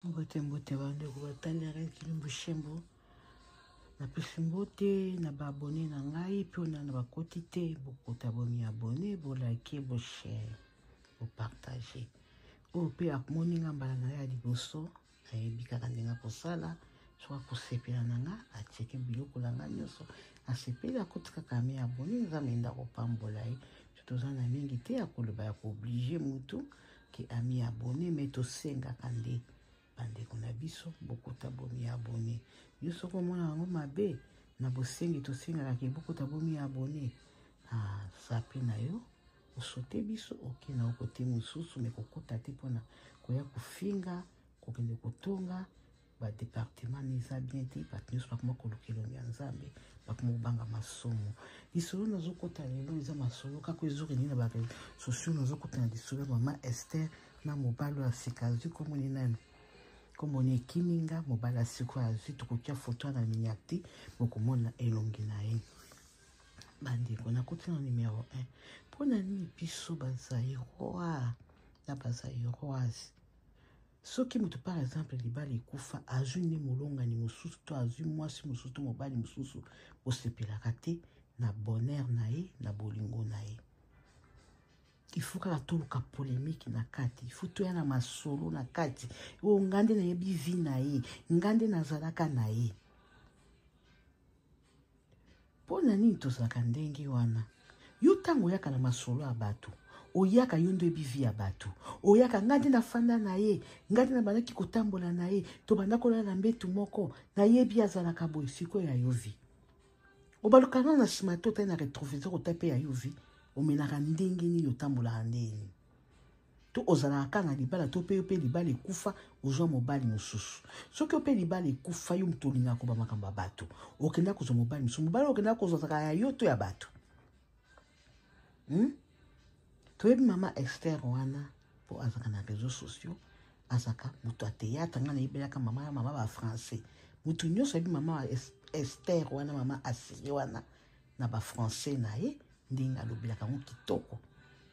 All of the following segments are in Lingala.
mbote mbote bandeko batali na reine kilimbu shembo napesi mbote na baabone na ngai mpe ona na bakoti te bokota bomiabone bolike boshare bopartage oyo mpe amoni nga mbala na ye ya liboso ayebi kaka ndenge akosala soki akosepela na nga atieke biloko na nga nyonso asepeli akoti kaka mi abone nzambe nde akopambola ye toza na mingi te ya koloba ya kooblige motu ke ami abonne me tosengaka nde bandeko na biso bokota bomi abonne yo soki omona yango mabe na bosengi tosengaka ke bokota bomi abonne ah, sapi na yo osote biso oke na okote mosusu me kokota te mpona koya kofinga kokende kotonga ba departement na eza bien te bato nyonso bakoma koluka elongi ya nzambe bakoma kobanga masumu lisolo nazokota lelo eza masolo kaka ezokendi na bato socio nazokota na lisolo ya mama ester na mobali oyo asika azwi komoni nani komoni ekimi nga mobali asiko azwi tokotya foto na miniac te bokomona elongi na ye bandeko nakoti na numero 1 mpo na nini biso bazairois na bazairoise soki moto par exemple libala ekufa azwi nde molongani mosusu to azwi mwasi mosusu to mobali mosusu osepelaka te na bonheur na ye na bolingo na ye ifo kaka toluka polemike na kati ifo toya na masolo na kati oyo nga nde nayebi vi na ye nga nde nazalaka na ye mpo na nini tozalaka ndenge wana yo ntango oyaka na masolo ya bato oyaka yo nde oyebi vi ya bato oyaka ngai nde nafanda na ye ngai nde nabandaki kotambola na ye tobanda kolala na mbetu moko nayebi azalaka boye sikoyo ya yo vi obaluka nano na nsima te otali na retroviseur ota mpe ya yo vi omenaka ndenge nini otambolaka ndenge nini to ozalaka kaka na libala to mpe yo mpe libala ekufa ozwa mobali mosusu soki yo mpe libala ekufa yo moto olingaka koba makambo ya bato okenda kozwa mobali mosusu mobali okenda kozwa zaka ya yo to ya bato hmm? toyebi mama ester wana mpo azalaka na réseau sociaux azalaka moto ya théâtre ngai nayebelaka mama ya mama bafrançais moto nyonso ayebi mama ester wana mama asiri wana na ba français na ye ndenge alobelaka yango kitoko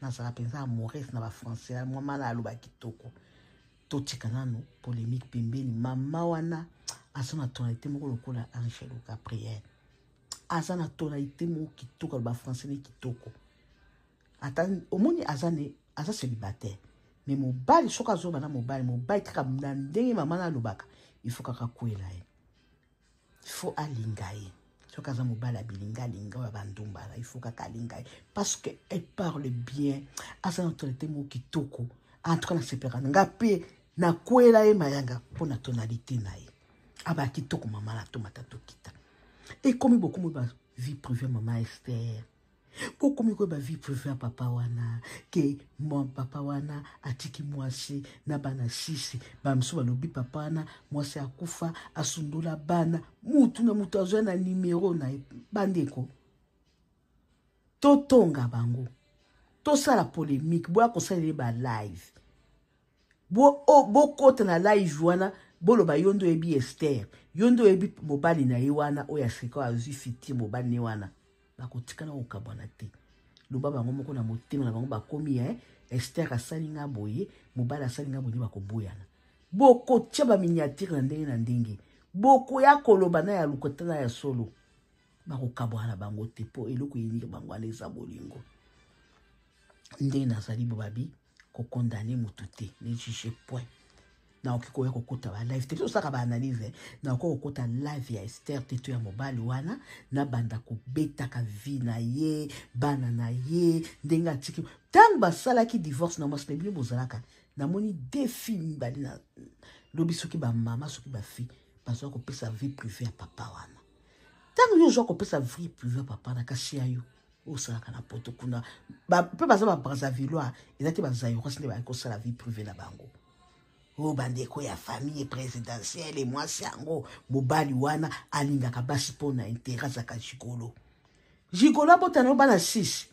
nazala mpenza amores na ba français mwa mala aloba kitoko totika nano polemique pembeni mama wana aza na tonalité moko lokola angelo gabriel aza na tonalité moko kitoko aloba français ne kitoko ata omoni aza ne aza célibataire mais mobali soki azoba na mobali mobali kaka na ndenge mama na alobaka il faut kaka kwela ye faut alinga ye soki aza mobali abilinga alinga oyo abandumbala il faut kaka alinga ye parce que elle parle bien aza na autorité moko kitoko en tout cas nasepelaka na nga mpe nakwela ye mayanga mpo na tonalité na ye abaa kitoko mama na tomata tokita ekomi bokomi ba vie privée mama ester mpo okomi koyeba vie prive ya papa wana ke mwa papa wana atiki mwasi na bana sisi bamosusu balobi papa wana mwasi akufa asundola bana mutu na moto azwa na nimero na ye bandeko totonga bango tosala polemique boya kosalela ye balive bo oh, bokota na live wana boloba yo nde oyebi ester yo nde oyebi mobali na ye wana oyo aseka oyo azwi fitire mobali ne wana bakotikana kokabwana te loba bango moko na motema na bango bakomi eh, ester asali nga boye mobali asali nga boye nde bakoboyana bokotya baminiatire na ndenge na ndenge bokoya koloba na ya lokota na ya solo bakokabwana na bango te mpo eloko eyiniki bango wana eza bolingo ndenge nazali bobabi kokondane motu te ne juge point naoki koya kokota balive te biso osalaka baanalyse eh. naoki kokota live ya ester te to ya mobali wana nabanda kobetaka vi na ye bana na ye ndenge atiki ntango basalaki divorce na mwasi na bino bozalaka namoni de fi mibali na lobi soki bamama soki bafi bazwa kopesa vie prive ya papa wana ntango yo ozwa kopesa vie prive ya papa na kasi ya yo osalaka na poto kuna mpe baza babrazavillois eza te bazairois nde bayaki kosala vie privé na bango o oh, bandeko ya famille présidentielle mwasi yango mobali wana alingaka basi mpo na intere azaka jikolo jikolo abotana yo bana 6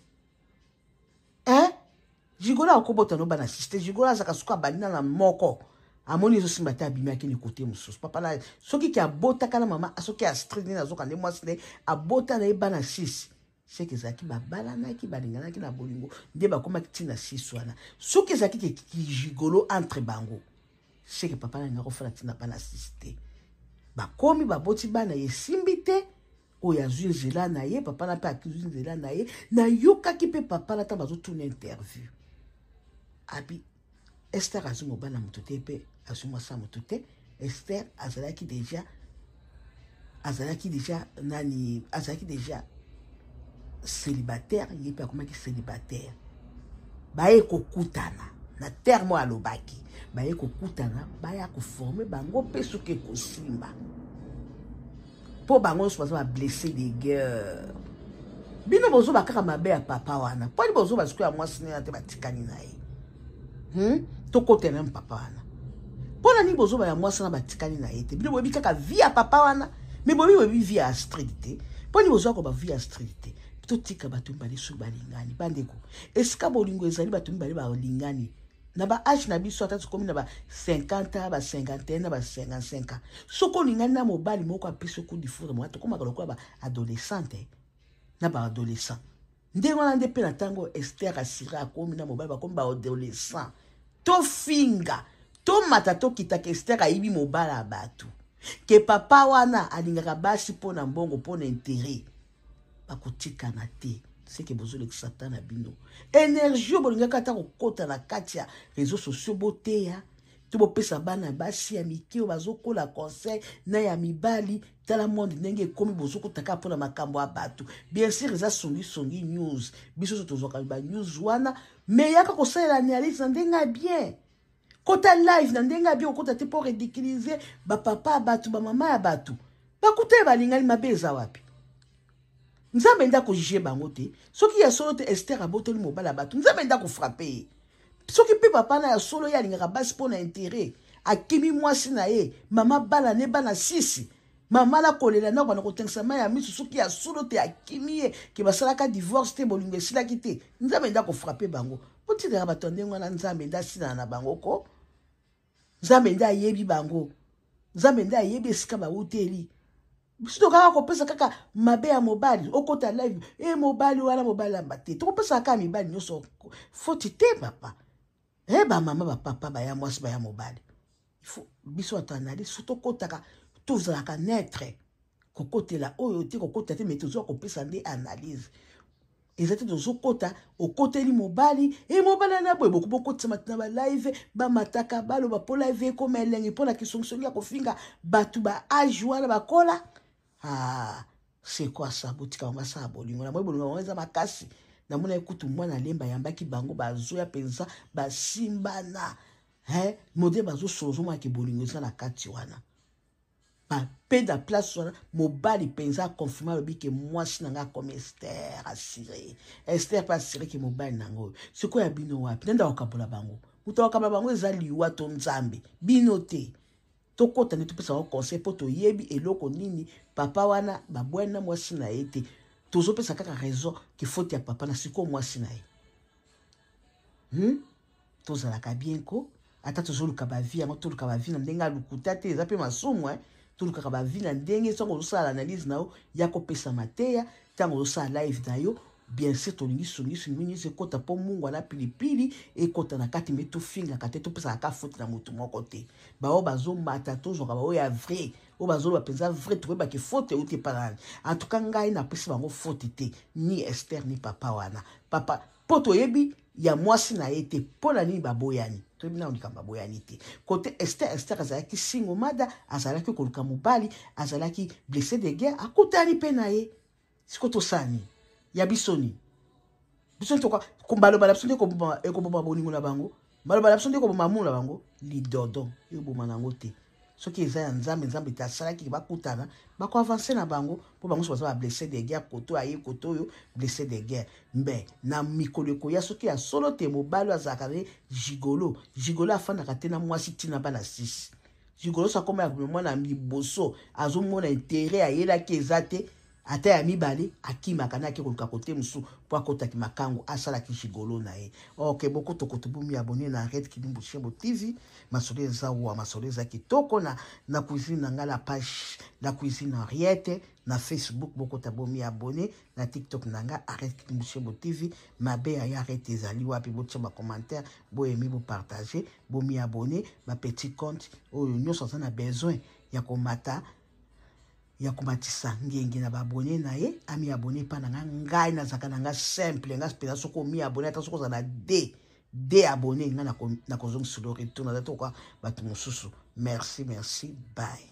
e eh? Jigola akobota no bana siste Jigola azaka suka bali na moko amoni ezo simba te abimi akende kote mosusu papa na soki ke abotaka na mama soki astrid nini azoka nde mwasi nde abota na ye bana 6 seke ezalaki babalanaki balinganaki na bolingo nde bakomaki ntina 6 wana soki ezalaki ke kijigolo entre bango seke papa na linga kofala ntina bana 6 te bakomi baboti bana esimbi te oyo azwi nzela na ye papa na mpe akizwi nzela na ye nayokaki mpe papa na ntango bazotuna interview abi ester azwi mobali na moto te mpe azwi mwasi ya moto te ester azalaki deja azalaki deja nani azalaki deja célibataire ye mpe akomaki célibataire baye kokutana na terme oyo alobaki baye kokutana baya koforme bango mpe soki ekosimba Po bango nso baza ba blesse de guerre. Bino bozo ba kaka mabe ya papa wana. Po ni bozo ba sikoya mwasi nina te batikani na ye. Hmm? Tokota na papa wana. Po na ni bozo ba ya mwasi na batikani na ye te. Bino boyebi kaka vie ya papa wana. Mais boyebi boyebi vie ya Astrid te. Po ni bozo ko ba vie ya Astrid te. Totika bato mibale soki balingani. Bandeko, esika bolingo ezali bato mibale balingani. na ba age na biso ata tokomi na ba 50 ans ba 51 na ba 55 ans soki olingani na mobali moko apesi oku difoure mwa tokomaka lokola ba adolescente eh, na ba adolescent ndenge wana nde mpe na ntango ester asira akomi na mobali bakomi ba adolescent tofinga tomata tokitaka ester ayibi mobali ya bato ke papa wana alingaka basi mpo na mbongo mpo na intere bakotikana te seke bozolekisa ta na bino energie bolingaki ata kokota na kati ya réseau sociaux boteya to bopesa bana basi ya mike oyo bazokola conseil na ya mibali tala monde ndenge ekomi bozokotaka mpona makambo ya bato bien sur eza songisongi news biso so tozwaka ba news wana me yaka kosalela analyse na ndenge ya bien kota live na ndenge ya bien okota te mpo ridiculize bapapa ya bato bamama ya bato bakuta ya balingani mabe eza wapi nzambe nde akojuge bango te soki ya solo te ester abotoli mobali ya bato nzambe nde akofrape ye soki mpe papa na ya solo ye alingaka basi mpo na intere akimi mwasi na ye mama bana ne bana sisi mama nakolela na bana kotengisa mai ya miso soki ya solo te akimi ye ke basalaka divorce te bolingo esilaki te nzambe nde akofrape bango botikaka bato ya ndenge wana nzambe nde asilana na bango ko nzambe nde ayebi bango nzambe nde ayebi esika bauteli biso tokaka kopesa kaka mabe ya mobali okota live e eh, mobali wana mobali yamba te tokopesaka kaka mibali nyonso foti te papa e eh, bamama bapapa baya mwasi baya mobali il faut biso bato analyse so tokotaka tozalaka neutre kokotela oyo te kokota te me tozwa kopesa nde analyse eza te tozokota okoteli mobali e mobali ana boye bokoki bokotisama tina balive bamataka baloba mpo live ekoma elengi mpo na kisongisongi ya kofinga bato ba age wana bakola ah, sekwasa botika bango basala bolingo na moi bolingo bango eza makasi namonaki kutu mwana lemba ayambaki bango bazoya mpenza basimbana Hein, mode bazo sozo mwa ke bolingo eza na kati wana. Ba peda place wana mobali penza confirma lobi ke mwasi na nga comme Esther assuré. Esther pa assuré ke mobali na ngo. Siko ya bino wapi? Nenda okabola bango. Muto okaba bango eza liwa to nzambe. Bino te. Tokota nde topesa bango conseil po toyebi eloko nini papa wana babwani na mwasi na ye te. Tozopesa kaka raison ke faute ya papa na siko mwasi na ye. Hmm? tozalaka bien ko ata tozoluka bavi yango toluka bavi na ndenge alukuta te eza mpe masumu eh? tolukaka bavi na ndenge ntango ozosala analyse na yo ya kopesa mateya ntango ozosala live na yo bien sûr tolingi songisongi mino nyonso ekota mpo mungu ana pilipili ekota na kati mpe tofingaka te topesaka ka foti na motu moko te baoyo bazomata tozwaka baoyo ya vrai oyo bazoloba mpenza vrai tokoyebaki foti euti epa nani antuka ngai napesi bango foti te ni ester ni papa wana papa mpo toyebi ya mwasi na ye te mpo na nini baboyani toyebi nano likambo baboyani te kote ester ester azalaki singo mada azalaki koluka mobali azalaki blesse de guerre akutani mpe na ye siko tosala nini ya biso nini biso baloba na biso nde ekoboma bolingo na bango maloba na biso nde koboma amour na bango lidodo ekoboma na yango te soki eza ya nzambe nzambe te asalaki bakutana bakoavanse na bango mpo bango nyonso baza bablesse de guerre koto aye koto oyo blesse de guerre mbe na mikolo ekoya soki ya solo te mobali oyo azalaka ne gigolo gigolo afandaka te na mwasi ntina bana sisi Gigolo sa koma ya komema na liboso azomona intere ayelaki eza te ata ya mibale akimaka na ake koluka kote mosusu mpo akotaki makango asalaki gigolo na ye ok bokotokoto bomi abone na red kidimbu shembo tv masolo eza wa masolo eza kitoko na na cuisine na ngai la page la cuisine henriette na facebook bokota bomi abonne na tiktok na nga arrete kimushebo tv mabe ya ya arrete ezali wapi botia bacommentaire boyemi bopartage bomi abonne bapetit compte oyo nyonso aza na besoin ya komata ya komatisa ngenge na baabone na ye ami abone epai na nga ngai nazalaka na nga simple nga mpenza soki omi abone ata soki ozala de de abone nga nakozongisilo retour naza tokoka bato mosusu merci merci bye